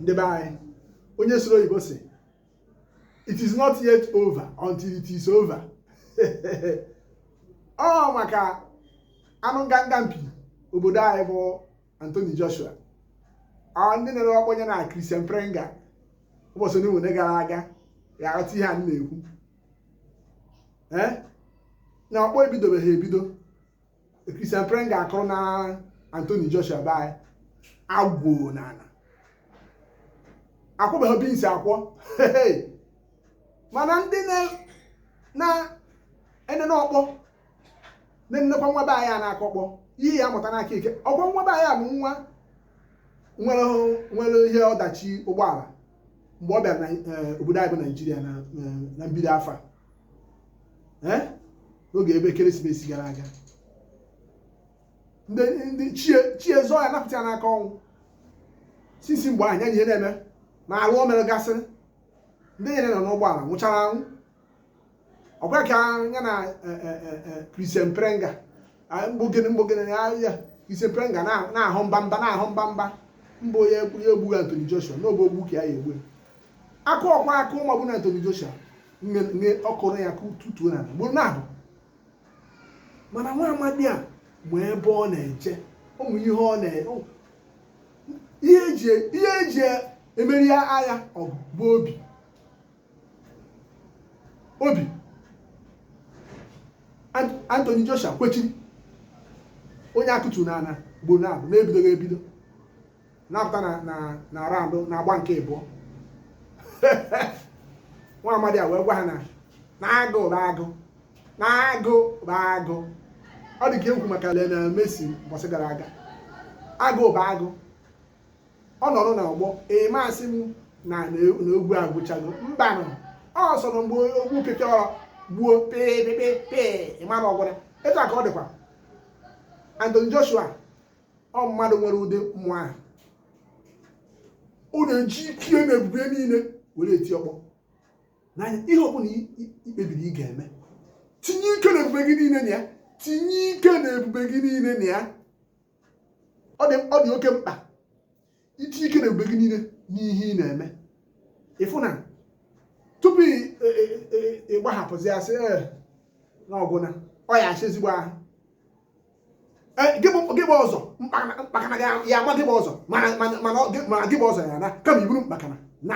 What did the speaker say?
ndị be anyị onye sụrụ oyibo sị it is not yet over until it is over ọ maka anụ nganga mpi obodo anyị bụ Anthony Joshua ọ ndị nere ọkpọ ya na Christian Prenga ụbọchị ndị nwere gara aga ga-aghọta ihe a na-ekwu na ọkpọ ebidobeghị ebido Christian Prenga akụrụna Anthony Joshua be anyị agwụ n'ala akwọba beans akwọ mana ndị na-enene ọkpọ na-enenekwa nwa be anyị a na-akụ ọkpọ ihe ya mụta n'aka ike ọkwa nwa be anyị a bụ nwa nwere ihe ọdachi ụgbọala mgbe ọ bịara eh, obodo anyị bụ naijiria na eh, mbido afọ a eh? n'oge ebe ekeresimesi gara aga ndị ndị ichie ichie zọọ ya napụta ya n'aka ọnwụ sisi mgbe ahụ ya na ihe na-eme ma arụ o mere gasịrị ndị o yiri nọ n'ụgbọala nwụchara anwụ ọkwa ka ya na Christian Prenga mgbogene mgbogene ya ya Christian Prenga na- na-ahụ mba mba na-ahụ mba mba mba onye ekwu- ya egbughị Anthony Joshua n'obe ogbu ka ya ya egbu akụ ọkwa akụ maọbụ na Anthony Joshua mme ọ kụrụ ya kụtuo n'ana ugboro naabọ mana nwa amadi a ma ebe ọ na-eje ọ ma ihe ọ na ihe eji emeri agha ọgụ bụ obi obi Anthony Joshua kwechiri onye a kụtu n'ana ugboro naabọ na-ebidoghị ebido na-apụta na na na raụndụ n'agba nke ịbụọ nwa amadi a wee gwa ha na na agụ bụ agụ na agụ bụ agụ ọ dị ka e kwu maka Lionel Messi mbọsị gara aga agụ bụ agụ ọ nọrọ n'ọgbọ ị ma asị m na na egwu agwụchago mbanụ ọ sọrọ mgbe ogwu pịpịa ọrọ gbuo pịpịpịpị ị mara ọ gwụla etu a ka ọ dịkwa Anthony Joshua ọ mmadụ nwere ụdị mmụọ ahụ ọ na-eji ike na ebube niile were eti ọkpọ n'anya ihe ọbụla i kpebiri ị ga-eme tinye ike na ebube gị niile na ya tinye ike na ebube gị niile na ya ọ dị oke mkpa iti ike na ebube gị niile n'ihe ị na-eme ị fụ na tupu ị gbahapụzia sị na ọ gwụna ọ ya-asịa ezigbo ahụ gị bu ụzọ mkpakana ya-ama gị bu ụzọ mana gị bu ụzọ ya na kama i buru mkpakana na